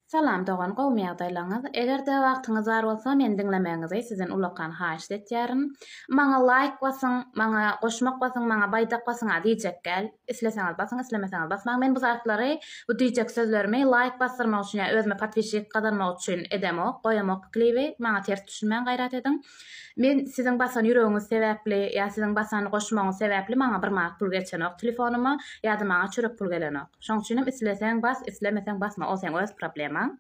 Salam dogan gowmy ýagdaýlaňyz egerde wagtyňyz bar bolsa meni diňlemegiňizi sizden ullakan haýyşt etýärin maňa laýk basyň maňa goşmak basyň maňa baýdak basyňa diýjekgäl isleseňiz basyň islemeseňiz basmaň men bu zatlary bu diýjek sözlerimi laýk basdyrmak üçin ýa özüme podpişik gazanmak üçin edemok goýamok klibi maňa ters düşünmäň gaýrat ediň Men siziň basan ýüregiňiz sebäpli ýa siziň basan goşmagyňyz sebäpli maňa bir manat pul geçenok telefonyma ýa-da maňa çörek pul gelenok. Şoň üçin hem isleseň bas, islemeseň basma ol seň öz problemaň.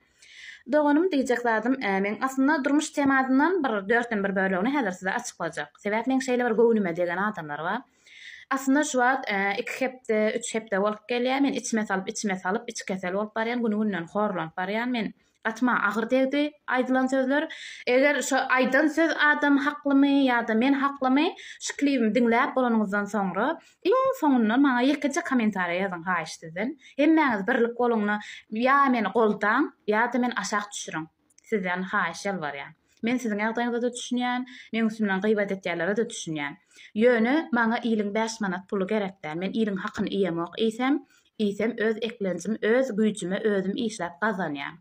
Doganym diýjek zadym meň aslynda durmuş temasyndan bir dörtden bir bölegini häzir size açyklajak. Sebäp meň şeýle bir göwnüme degen adamlar bar. Aslynda şu wagt iki hepde, üç hepde bolup gelýär men içme salyp içme salyp içi kesel bolup barýan güni günden horlanyp barýan men. Gatyma agyr degdi aýdylan sözler. Eger şo aýdan söz adam haklymy ýa-da men haklymy şu klibimi diňläp bolanyňyzdan soňra iň soňundan maňa ýekeje kommentariýa ýazyň haýyş sizden. Hemmäňiz birlik boluňda ýa meni goldaň ýa-da meni aşak düşüriň. Sizden haýyş ýalbarýan. Men siziň ýagdaýyňyzada düşünýän, meň üstümden gybat etýänlerede düşünýän. Ýöne maňa iliň bäş manat puly gerek däl. Men iliň hakyny iýemok iýsem, Iýsem öz eklenjim öz güýjüme özüm işläp gazanýan.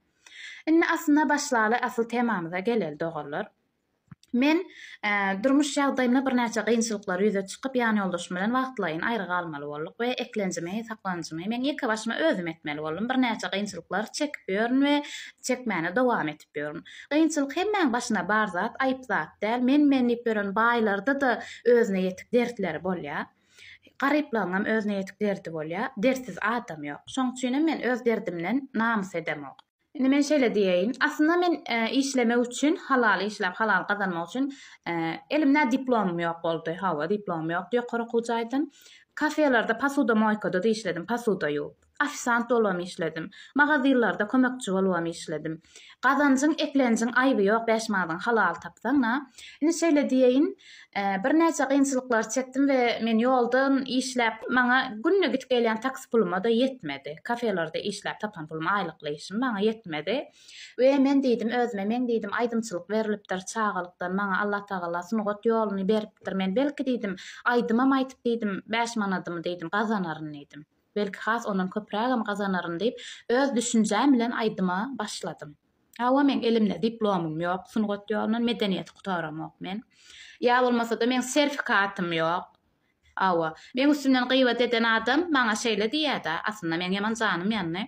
Indi aslyna başlaly asyl temamyza geleli doganlar. Men durmuş ýagdaýymda birnäçe gynçylyklar ýüze çykyp ýan ýoldaşym bilen wagtlaýyn aýry galmaly boldyk we eklenjimi saklanjymy men ýeke başyma özüm etmeli boldum birnäçe gynçylyklar çekip ýörün we çekmäne dowam etip ýörün. Gynçylyk hemmäň başyna bar zat aýyp zat däl men men diýip ýören baýlarda-da özüne ýetik dertleri bolýar. Garyplaňňam özüne ýetik derdi bolýa. Dertsiz adam ýok. Şoň üçinem men öz derdimden namys edemok. Indi men şeýle diýeýin. Aslynda men işlemek üçin, halal işläp, halal gazanmak üçin elimdä diplomym ýok boldy. Hawa, diplomym ýokdy ýokary okuw jaýdan. Kafelerde, posuda-moýkada-da işledim, posuda ýuwup. Ofisant bolubam işledim. Magazynlarda kömekçi bolubam işledim. Gazanjyň, eklenjiň aýby ýok, bäş manadyňy halal tapsaň-a. Indi şeýle diýeýin, birnäçe kynçylyklary çekdim we men ýoldan işläp, maňa günde gidip gelýän taksi puluma-da ýetmedi. Kafelerde işläp tapan pulum, aýlykly işim maňa ýetmedi. We men diýdim özüme, meň diýdim aýdymçylyk berlipdir, çagalykdan maňa Allatagala sungat ýoluny beripdir. Men belki diýdim, aýdymam aýtyp diýdim, bäş manadymy diýdim gazanaryn diýdim. Belki has ondan köprägem gazanaryn diýip, öz düşünjäm bilen aýdyma başladym. Hawa, meň elimde diplomym ýok, sungat ýolundan medeniýeti gutaramok men. Ýa bolmasa-da meň serfikatym ýok. Hawa, meň üstümden gybat eden adam maňa şeýle diýýä-dä, aslynda meň ýaman janym ýandy.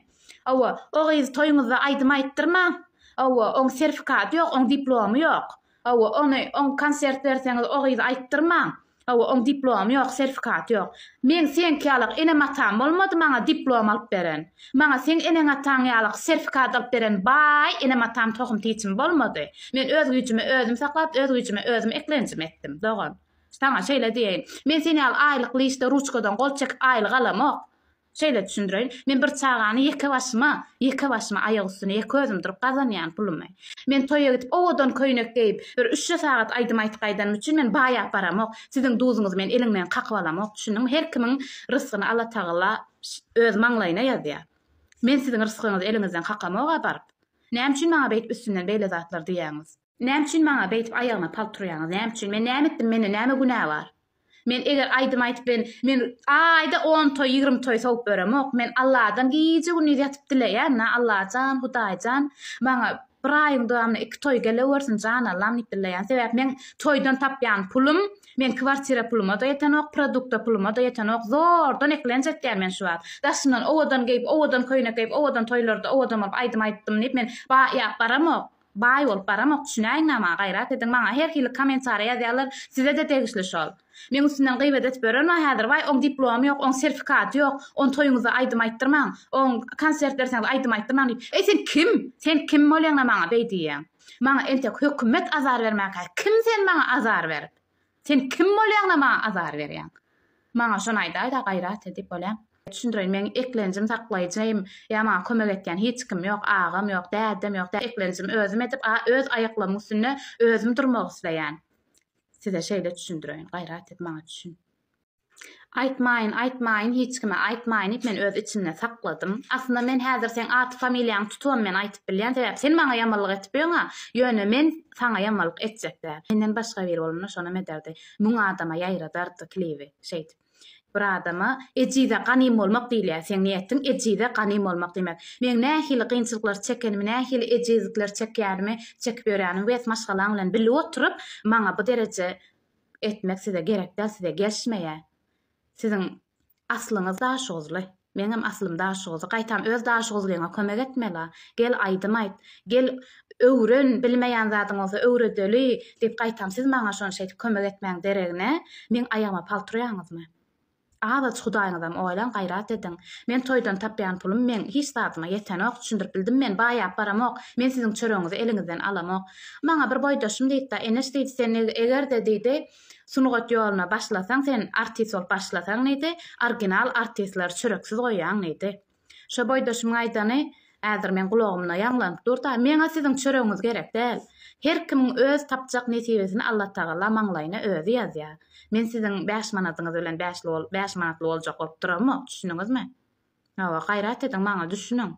Hawa, o gyzy toýuňyzda aýdym aýtdyrmaň. Hawa, oň serfikaty ýok, oň diplomy ýok. Hawa ony oň konsert berseňiz o gyzy aýtdyrmaň. Hawa oň diplomy ýok serfikaty ýok. Meň seňki ýalak enem atam bolmady maňa diplom alyp beren. Maňa seň eneň ataň ýalak serfikat alyp beren baý enem atam tohum tiçim bolmady. Men öz güýjüme özüm saklap öz güýjüme özüm eklenjimi etdim dogan. Saňa şeýle diýeýin. Men sen ýaly aýlykly işde ruçkadan gol çekip aýlyk alamok. Şeýle düşündireýin, men bir çagany ýeke başyma, ýeke başyma aýak üstüne ýeke özüm durup gazanýan pulumy. Men toýa gidip owadan köýnek geýip, bir üçje sagat aýdym aýtyp gaýdanym üçin men baýap baramok, siziň duzuňyzy men eliňden kakyp alamok, düşündiňmi? Her kimiň rysgyny Allatagala öz maňlaýyna ýazýar. Men siziň rysgyňyzy eliňizden kakamok-a baryp. Näme üçin maňa beýdip üstümden beýle zatlar diýýäňiz? Näme üçin maňa beýdip aýagyma palp turýaňyz? Näme üçin? Men näme etdim? Mende näme günä bar? Men eger aýdym aýdyp bilen, men aýda on toý, ýigrimi toý sowup ýöremok. Men Alladan gije-gündiz ýatyp dileýän, Na, Allajan, Hudaýjan, maňa bir aýyň dowamynda iki toý gelewersin, jan Allam diýip dileýän. Sebäp meň toýdan tapýan pulum, meň kwartira puluma-da ýetenok, produkta puluma-da ýetenok. Zordan eklenç etýän men şu wagt. Daşyndan owadan geýip, owadan köýnek geýip, owadan toýlarda owadan bolup aýdym aýdypdym diýip, men baýap baramok. Baý bolup baramok düşünäýiň nama gaýrat ediň maňa her hili komentariýa ýazýarlar sizede degişli şol. Meň üstümden gyýbat edip ýören bar häzir waý oň diplomy ýok oň serfikaty ýok on toýuňyzda aýdym aýtdyrmaň oň konsert berseňiz aýdym aýtdyrmaň diýip eý sen kim sen kim bolýaňda maňa beý diýýäň maňa entek hökümet azar bermäkä kim sen maňa azar berip Sen kim bolýaňda maňa azar berýäň? Maňa şony aýdaýda gaýrat edip bolýa. Düşündireýin meň eklenjim saklaýjym ýa maňa kömek etýän hiç kim ýok agam ýok dädem ýok dä eklenjim özüm edip a öz aýaklamyň üstünde özüm durmak isleýän size şeýle düşündireýin gaýrat et maňa düşün. Aýtmaýyn, aýtmaýyn hiç kime, aýtmaýyn diýip, men öz içimde sakladym. Aslynda men häzir seň ady-familiýaňy tutubam men aýtyp bilýän, sebäp sen maňa ýamanlyk edip ýöňa, ýöne men saňa ýamanlyk etjek däl. Menden başga biri bolanda şonam ederdi. Müň adama ýaýradardy klibi şeýdip. Bir adama ejize ganym bolmak diýilýär, seň niýetiň ejize ganym bolmak diýmek. Meň nähili gynçylyklar çekenimi, nähili ejizlikler çekýänimi, çekip ýörýänimi wes maşgalaň bilen bili oturyp maňa bu dereje etmek size gerek däl size gelşmeýä siziň aslyňyz daşoguzly meňem aslym daşoguzly gaýtam öz daşoguzlyňa kömek etmela gel aýdym aýt gel öwren bilmeýän zadyň bolsa öwredeli diýip gaýtam siz maňa şony şeýdip kömek etmäň deregine meň aýagyma palturaýaňyzmy Azaç hudaýyňyzam oýlan gaýrat ediň. Men toýdan tapýan pulum meň hiç zadyma ýetenok düşündirip bildim men baýap baramok men siziň çöregiňizi eliňizden alamok. Maňa bir boýdaşym diýipda Eneş diýdi sen egerde diýdi sungat ýoluna başlasaň sen artist bolup başlasaň diýdi orginal artistleri çöreksiz goýýaň diýdi. Şo boýdaşymyň aýdany häzir meň gulagymda ýaňlanyp dur-da, Meň-ä siziň çöregiňiz gerek däl. Her kimiň öz tapjak nesibesini Allatagala maňlaýyna özi ýazýar. Men siziň bäş manadyňyz bilen bäşli bol, bäş manatly boljak bolup duramok, düşündiňizmi? Hawa, gaýrat ediň, maňa düşüniň.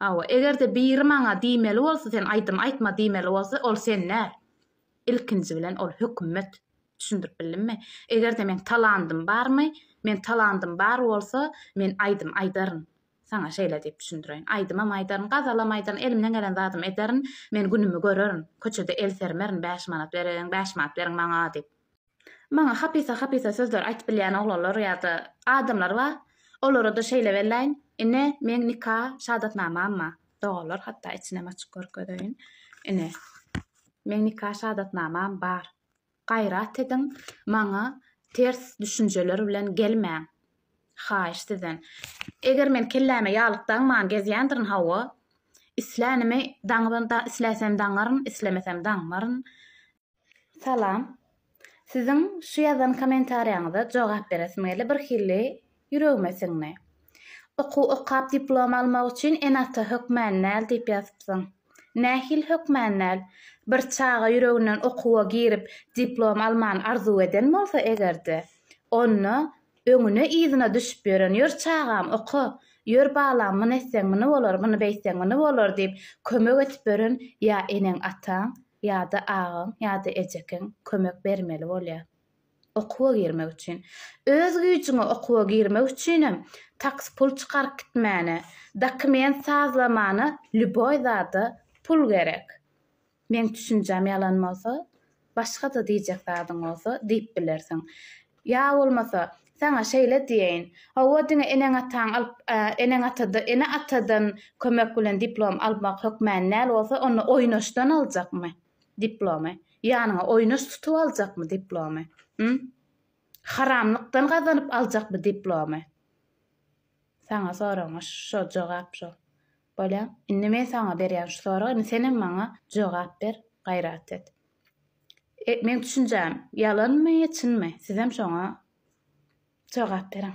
Hawa, eger-de biri maňa diýmeli bolsa, sen aýdym aýtma diýmeli bolsa, ol sen däl. Ilkinji bilen ol hökümet. Düşündirip bildimmi? Eger-de meň talandym barmy? Meň talandym bar bolsa, men aýdym aýdaryn. Saňa şeýle diýip düşündireýin. Aýdymam aýdaryn, gazalam aýdaryn, elimden gelen zadymy ederin. Men günümi görerin. Köçede el sermerin, bäş manat bereýin, bäş manat beriň maňa diýip. Maňa hapysa-hapysa sözler aýtyp bilýän oglanlar ýa-da adamlar bar. Olara-da şeýle welläýin, ine, meň nika şadatnamam-a. Doganlar, hatda içinem açyp görkezeýin. Ine, meň nika şadatnamam bar. Gaýrat ediň, maňa ters düşünjeler bilen gelmäň. Haýyş sizden. Eger men kelläme ýalyk daňman gezýändirin, hawa, islänimi daňyp-da, isläsem daňaryn, islemesem daňmaryn. Salam. Siziň şu ýazan komentariýaňyza jogap beresim geldi, bir hili ýüregime siňdi. Okuw okap diplom almak üçin ene-ata hökmän däl diýip ýazypsyň. Nähili hökmän däl? Bir çaga ýüreginden okuwa girip diplom almany arzuw eden bolsa eger-de, onda öňüne-yzyna düşüp ýören ýör çagam oka, ýör balam muny etseň muny bolar, muny beýtseň muny bolar diýip kömek edip ýören ýa eneň-ataň, Ýa-da agaň, ýa-da ejekiň kömek bermeli bolýar. Okuwa girmek üçin. Öz güýjüňe okuwa girmek üçinem taks pul çykaryp gitmäne, dokument sazlamana lýuboý zada pul gerek. Meň düşünjäm ýalan bolsa, başga-da diýjek zadyň bolsa diýip bilersiň. Ýa bolmasa, saňa şeýle diýeýin, Hawa, diňe eneň-ataň alyp, eneň-ata-da, ene-atadan kömek bilen diplom almak hökmany däl bolsa, onda oýnaşdan aljakmy diplomy? Ýanyňa oýnaş tutup aljakmy diplomy? Hum? Haramlykdan gazanyp aljak bu diplomy? Saňa soragyňa şo jogap şo. Bolýa. Indi men saňa berýän şu sorag, indi senem maňa jogap ber, gaýrat et. E, meň düşünjäm ýalanmy, çynmy? Sizem şoňa jogap beriň.